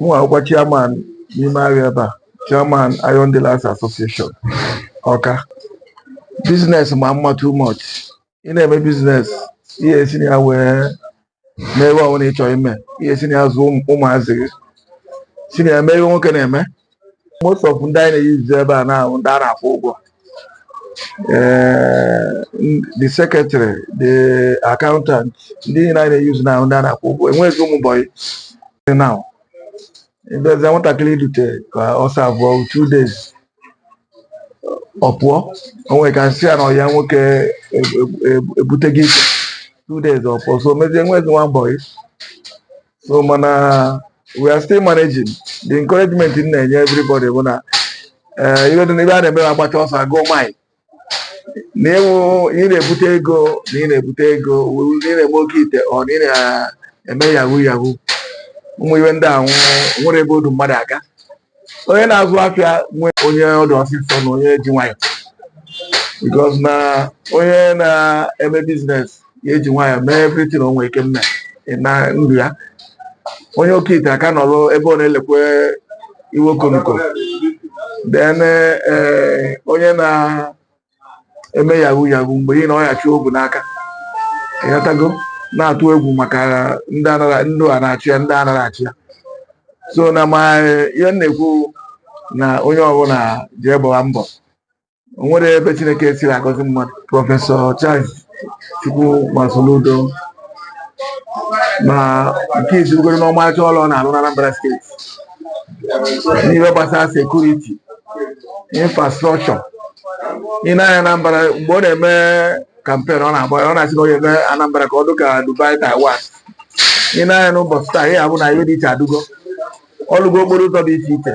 mụwa wụkwa chairman n'ime ahịa ebe a chairman Iron Dealers Association Ọka biznes ma mma too much ị na-eme biznes ihe esi na ya wee mee ihe ọbụla ị chọrọ ime ihe esi na ya zụọ ụmụ- ụmụazị gị si na ya mee ihe nwoke na-eme most of ndị anyị na-eyuzu ebe a na-awụ ndị a na-akwụ ụgwọ Eh, n- the secretary the accountant ndị niile anyị na-eyuzu na-awụ ndị a na-akwụ ụgwọ enweghị ụmụ bọyị dị na ịbịazie nwatakịrị i dute ka ọ savụọ two days ọ pụọ o nwere ka a sị ya na ọyị ya nwoke e- e- e- ebutego ike two days ọ pụọ so o mezie enwezi nwa bọyị so mana we are still managing the encouragement m na-enye everybody bụ na eh, ife dị na ife a na-eme agbacha ọsọ agụọ mile na ịwụ ị na-ebute ego na ị na-ebute ego wụ na ị na-eme oke ite or na ị na-eme yahoo yahoo ụmụ ihe ndị ahụ nwere ebe o du mmadụ aga onye na-azụ afịa nwee onye ọ dụ ọsịsọ na onye ji nwayọ because na onye na-eme biznes ya eji nwayọ mee everything o nwere ike mme na ndụ ya onye oke ite aka nọrọ ebe ọ na-elekwe iwe okonoko then eh, onye na-eme yahoo yahoo mgbe ị na ọ ya chị obu n'aka ịghọtago na-atụ egwu maka ndị anara ndị a na-achụ ya ndị anara achụ ya so na ma ihe m na-ekwu na onye ọbụla jee gbaa mbọ o nwere ebe Chineke siri agọzi mmadụ prọfesọ Charles Chukwuma Soludo na nke izirugoro n'ọmarịcha ọlụ ọ na-arụ n'Anambra steeti n'ihe gbasara sekuriti infrastrọkchọ i nee anya Anambra mgbe ọ na-eme kampen ọ na-agba ọ na-asị na ọ ya-eme Anambra ka ọ dị ka Dubai Taiwan i nee anya n'ụbọchị taa ị ya-afụ na ihe dị iche adụgo ọ lụgo okporo ụzọ dị iche iche